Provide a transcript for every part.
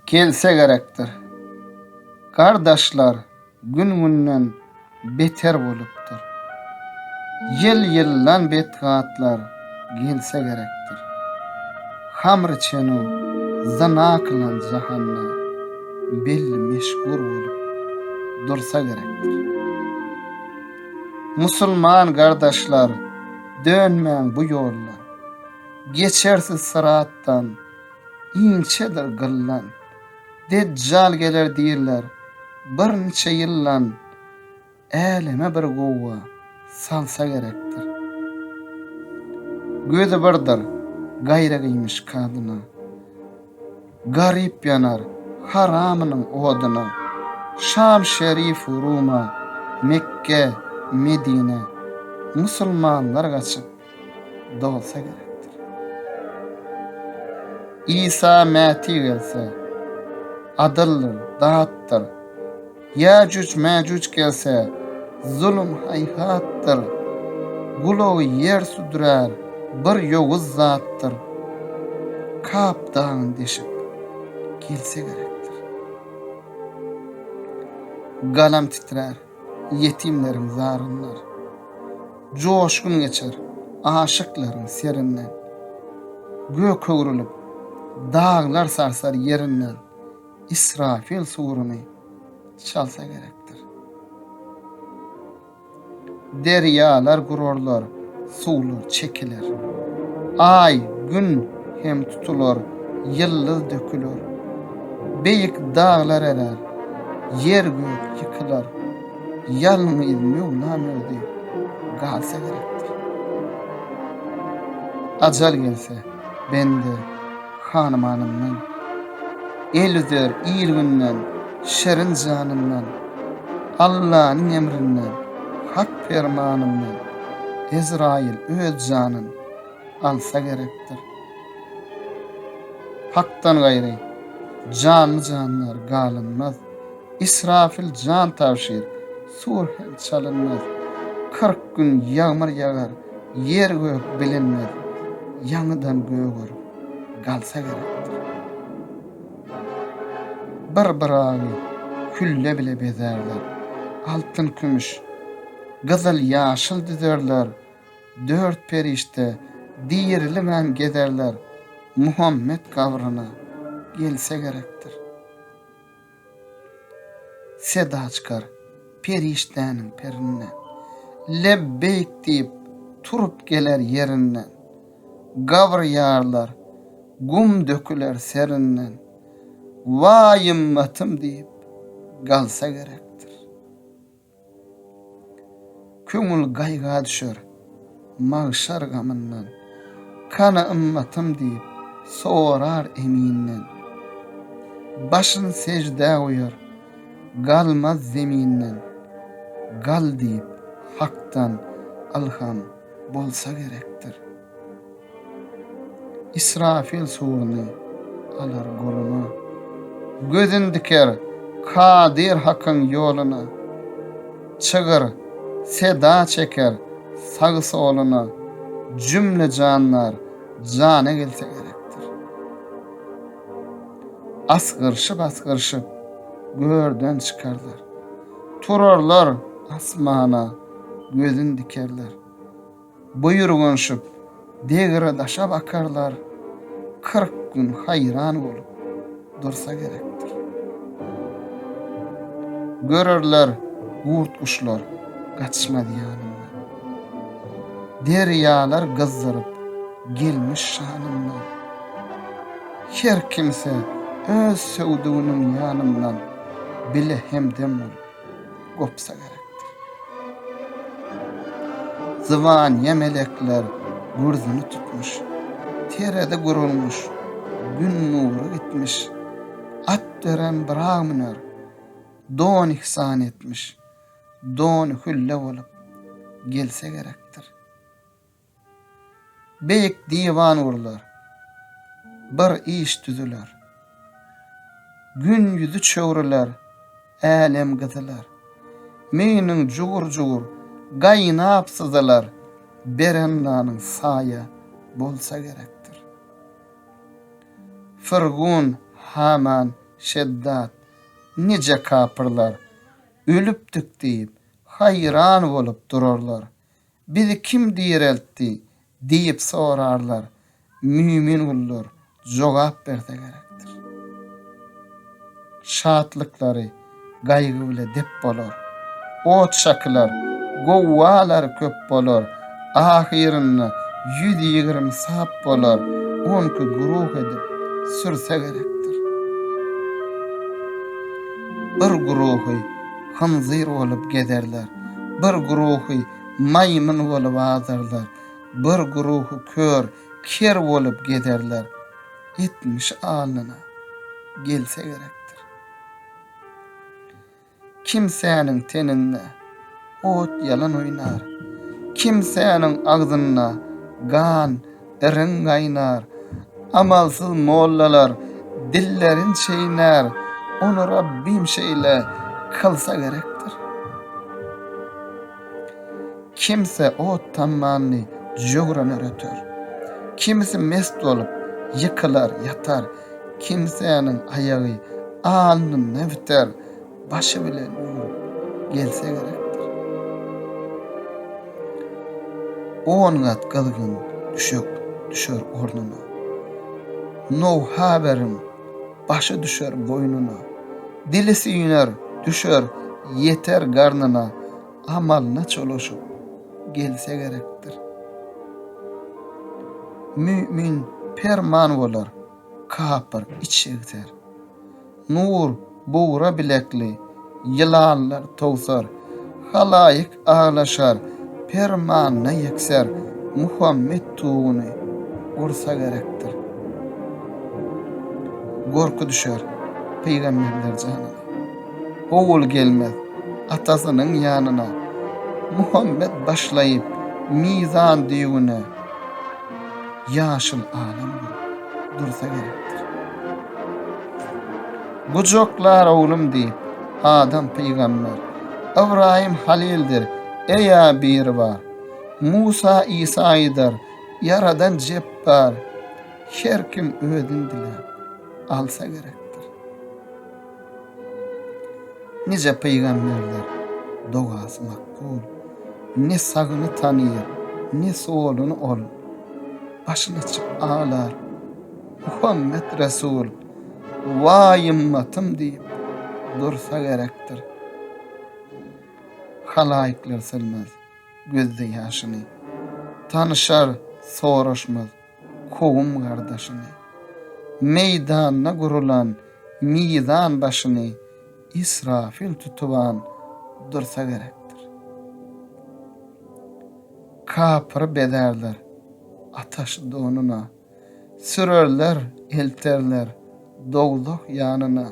Gelse gerekdir. Gardaşlar gün-günden beter bolupdyr. Ýyl-ýyldan betgatlar gelse gerekdir. Hamr çenu zyna kylan jahanda belli meşgur bolup dursa gerekdir. Musulman gardaşlar dönmäň bu ýollar. Geçersiz syratdan, inçedir gyllan. Dejjal geler diýrler, birnçe ýyllan. Äleme bir guwa salsa gerekdir. Gözi birdir, gaýra giýmiş kadyna. Garyp ýanar haramynyň odyna. Şam şerifu Ruma, Mekge, Medine. Musulmanlar gaçyp, dolsa gerekdir. Isa mäti gelse, adyldyr, datdyr. Ýäjüj-mäjüj gelse, zulum haýhatdyr. Gulagy ýer südürär, bir ýowuz zatdyr. Kap dagyny deşip, gelse gerekdir. Galam titrär. ýetimleriň zaryndan. Joşgun geçer aşyklaryň serinden. Gök öwrülip, daglar sarsar ýerinden. Israfil suruny çalsa gerekdir. Derýalar gurarlar, suwlar çekiler. Aý, Gün hem tutular, ýyldyz döküler. Beýik daglar erer, Ýer-gök ýykylar, ýalňyz Möwlam özi galsa gerekdir. Ajal gelse, bende hanymanymdan, el üzer il-günden, şirin janymdan, Allanyň emrinden, hak permanymdan Ezraýyl öz janyn alsa gerekdir. Hakdan gaýry, janly-jandar galynmaz, Israfil jan tabşyr, sur hem çalynmaz. Kyrk gün ýagmyr ýagar, ýer-gök bilinmez, Ýaňydan göger, galsa gerekdir. Bir Yragy külle bile bezärler, Altyn-kümüş, gyzyl-ýaşyl düzerler, Dört perişde dirilibem gezerler Muhammet gabryna gelse gerekdir. Seda çykar perişdäniň perinden. Lebbeýk diýip turup geler ýerinden. Gabr ýarlar gum döküler serinden. Waý ymmatym diýip galsa gerekdir. Köňül gaýga düşer, magşar gamyndan. Kany ymmatym diýip, sorar Eminden. Başyn seždä goýar, galmaz zeminden. Gal diýip, Hakdan ylham bolsa gerekdir. Israfil suruny alar goluna, Gözün diker Kadyr Hakyň ýoluna. Çygyr seda çeker sagy-soluna, Jümle jandar jana gelse gerekdir. Asgyryşyp-asgyryşyp görden çykarlar, Turarlar asmana gözün dikerler. Buýurgynşyp, degre daşa bakarlar, kyrk gün haýran bolup dursa gerekdir. Görerler gurt-guşlar gaçmaz ýanymdan. Derýalar gyzdyryp gelmiş şanymdan. Her kimse öz söwdüginiň ýanymdan bile hemdem bolup. gopsa gerekdir. Zybanyýa melekler gürzüni tutmuş, terezi gurulmuş, gün nury gitmiş, at beren bramner don ihsan etmiş, don hülle bolup gelse gerekdir. Beýik diwan gurlar. Bir iş düzüler. Gün ýüzi çöwrüler, älem gyzylar. Meýniň jugur-jugur gaýnap syzylar, beren nanyň saýa bolsa gerekdir. Firgun, Haman, Şeddad, nije kapyrlar ölüpdik diýip, haýran bolup durarlar, Bizi kim direltdi? diýip sorarlar. Mümin gullar jogap berse gerekdir. Şatlyklary gaýgy bile dep bolar. Ot-şakylar, gowgalar köp bolar. Ahyrynda ýüz ýigrimi sap bolar. On iki guruh edip sürse gerekdir. Bir guruhy hynzyr bolup gezerler, bir guruhy maýmyn bolup azarlar, bir guruhy kör, ker bolup gezerler. Etmiş alnyna gelse gerekdir. Kimsäniň teninde ot ýalan oýnar, kimsäniň agzynda gan Irin gaýnar. Amalsyz mollalar dillerin çeýnär, ony Rabbym şeýle kylsa gerekdir. Kimsi ot tammandy jögrana röter. Kimsi mest bolup, ýykylar, ýatar. Kimsäniň aýagy alnynda biter. başy bilen o gün gelse gerekdir. On gat gyzgyn düşek düşer ornuna. No haberin başy düşer boynuna. Dili süyner, düşer, yeter garnına. Amalına çolaşıp gelse gerekdir. Mümin perman bolar. Kapyr içegser. Nur bugra bilekli ýylanlar towsar, Halaýyk aglaşar permanyna ýekser, Muhammet tuguny ursa gerekdir. Gorky düşer pygamberler janyna. Ogul gelmez atasynyň ýanyna, Muhammet başlaýyp mizan düýbüne. ýaşyl adam bolup dursa gerekdir. Gujaklar oglum diýip, Adam pygamber, Ybraýym Halildir, Eýa biri bar. Musa Isa aýdar, Ýaradan Jepbar, Her kim özüni diläp, alsa gerekdir. Nije pygamberler dogasy makbul, Ne sagyny tanyr, ne soluny ol, Başyny açyp aglar, Muhammet Resul, Waý ymmatym diýip dursa gerekdir. Halaýyklar silmez gözde ýaşyny, Tanyşar, soraşmaz kowum-gardaşyny. Meýdanda gurulan mizan başyny Israfil tutuban dursa gerekdir. Kapyry bezärler ataş donuna, sürerler, elterler dowzah ýanyna.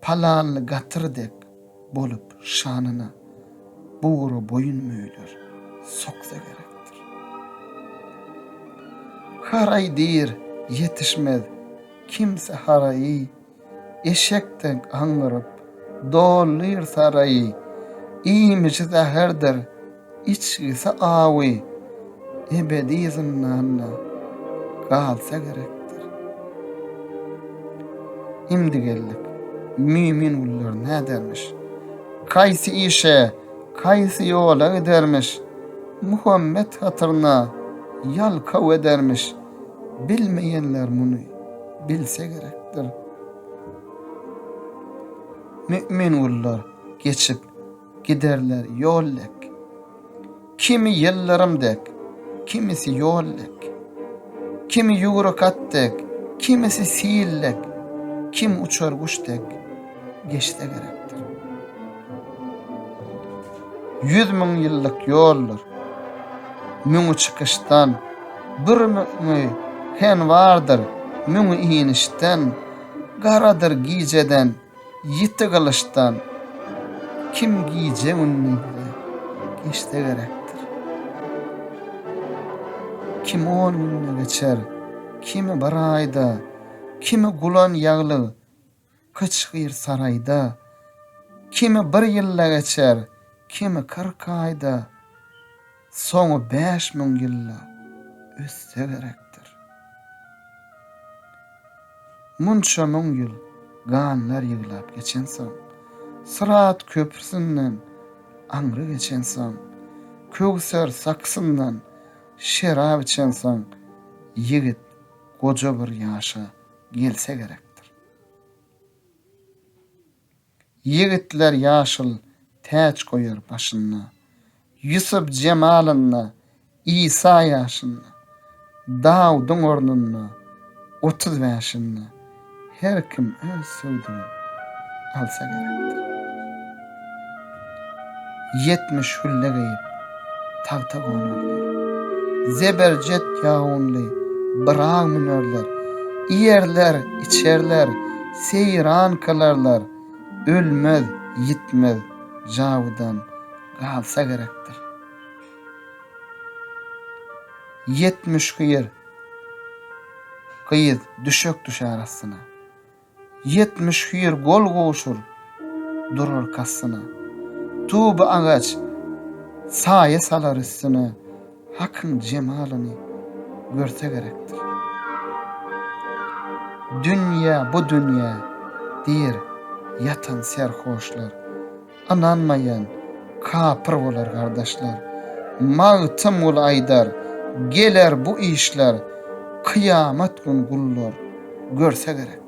Palanly gatyr dek bolup şanyna bugra boýun möýler soksa gerekdir. Haraý diýr, ýetişmez kimse haraýy, eşek dek aňňyryp dolýr saraýy, iýmişi zäherdir, Içgisi awy ebedi zyndanda galsa gerekdir. Indi geldik mümin gullar nädermiş? Kaýsy işe, kaýsy ýola gidermiş? Muhammet hatyryna ýalkaw edermiş. Bilmeýänler muny bilse gerekdir. Mümin gullar geçip Giderler ýol dek. Kimi ýyldyrym dek, kimisi ýol dek. Kimi ýüwrük at dek, kimisi sil dek, kim uçar guş dek geçse gerekdir. Ýüz müň ýyllyk ýoldur. Müňi çykyşdan, bir müňi henwardyr, müňi inişden, garadyr gijeden, Ýiti gylyçdan kim gije-gündizi geçse gerekdir. Kim on günde geçer, kimi bir aýda, kimi gulan ýaglyk gyçgyr saraýda, kimi bir ýylda geçer, kimi kyrk aýda. Soňy bäş müň ýylla össe gerekdir. Munça müň ýyl ganlar ýyglap geçensoň, Syrat köprüsinden aňry geçensoň, Köwser sakysyndan şerap içensoň, ýigit goja bir ýaşa gelse gerekdir. Ýigitler ýaşyl täç goýar başynda, Ýusup jemalynda, Isa ýaşynda, Dawudyň ornunda, otuz bäşinde, Her kim öz söwdügin alsa gerekdir. Ýetmiş hülle geýip, tagta gonarlar. Zeberjet ýagynly Byraga münerler. Iýerler, içerler, seýran kylarlar. Ölmez, ýitmez jawudan galsa gerekdir. Ýetmiş hyýr gyz düşek düşer astyna. Ýetmiş hüýr gol gowşur durur kastyna. Tuby agaç saýa salar üstüne, Hakyň jemalyny görse gerekdir. Dünýe, bu dünýe, diýr ýatan serhoşlar. Ynanmaýan kapyr bolar gardaşlar. Magtymguly aýdar, Geler bu işler kyýamat gün gullar görse gerekdir.